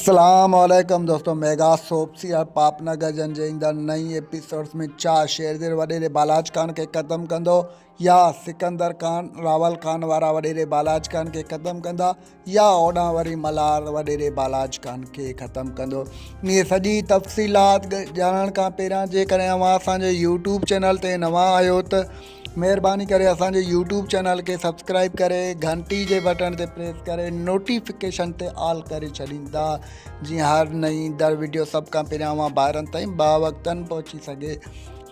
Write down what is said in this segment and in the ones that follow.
اسلام عليڪم دوستو ميگا سوپ سيريل پاپ نه گجن جي ايندڙ نئين ايپيسوڊز ۾ ڇا شيرزير وڏيري بالاچ خان کي ختم ڪندو يا سڪندر خان راول خان وارا وڏيري بالاچ خان کي ختم ڪندا يا اوڏان وري ملهار وڏيري بالاچ خان کي ختم ڪندو اهي سڄي تفصيلات ڄاڻڻ کان پهريان جيڪڏهن اوهان اسان جي يوٽيوب چينل تي نوان آهيو ته مهرباني ڪري اسان جي يوٽيوب چينل کي سبسڪرائب ڪري گهنٽي جي بٽڻ تي پريس ڪري نوٽيفڪيشن تي آل ڪري ڇڏيندا جيئن هر نئين در ويڊيو سڀ کان پهريان اوهان ڀائرن تائين با وقتاً پهچي سگهي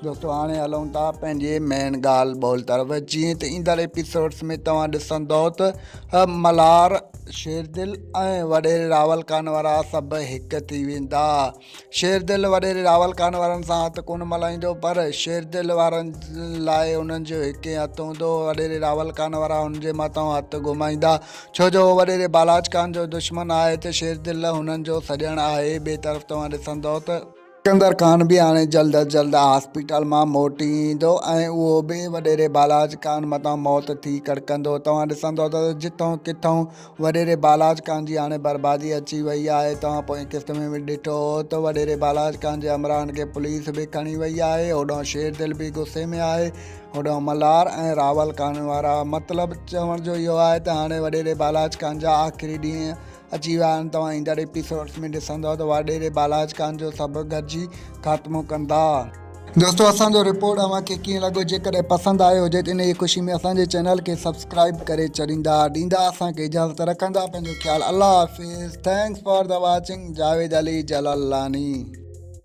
دوستو هاڻي هلون ٿا پنهنجي مين ڳالهه ٻول طرف جيئن ته ايندڙ ايپيسوڊس ۾ توهان ڏسندو ته ملهار شيردل ۽ وڏيري راول خان وارا سڀ هڪ ٿي ويندا شيردل وڏيري راول خان وارن سان هٿ ڪونه ملائيندو پر شيردل وارن لاء انهن جو هڪ ئي هٿ هوندو وڏيري راول خان وارا هن جي مٿان هٿ گهمائيندا ڇو جو هو وڏيري بالاچ خان جو دشمن آهي ته شيردل هنن جو سڄڻ آهي ٻئي طرف توهان ڏسندئو ته سڪندر خان به هاڻي جلد از جلد هاسپيٽل مان موٽي ايندو ۽ اهو به وڏيري بالاچ خان مٿان موت ٿي ڪڙڪندو توهان ڏسندئو ته جتئون ڪٿئون وڏيري بالاچ خان جي هاڻي بربادي اچي وئي آهي. توهان پوئين قسط ۾ به ڏٺو هو ته وڏيري بالاچ خان جي همراهن کي پوليس به کڻي وئي آهي. هوڏانهن شير دل به غصي ۾ آهي. هوڏانهن ملهار ۽ راول خان وارا. مطلب چوڻ جو اهو آهي ته هاڻي وڏيري بالاچ خان جا آخري ڏينهن اچي ويا آهن. توهان ايندڙ ايپيسوڊز ۾ ڏسندؤ ته وڏيري بالاچ خان جو سڀ گڏجي خاتمو ڪندا. دوستو اسان جو رپورٽ اوهان کي ڪيئن لڳو جيڪڏهن پسند آيو هجي ته انهي خوشي ۾ اسان جي چينل کي سبسڪرائيب ڪري ڇڏيندا ڏيندا اسان کي اجازت رکندا پنهنجو خيال الله حافظ thanks for the watching Javed Ali Jalalani.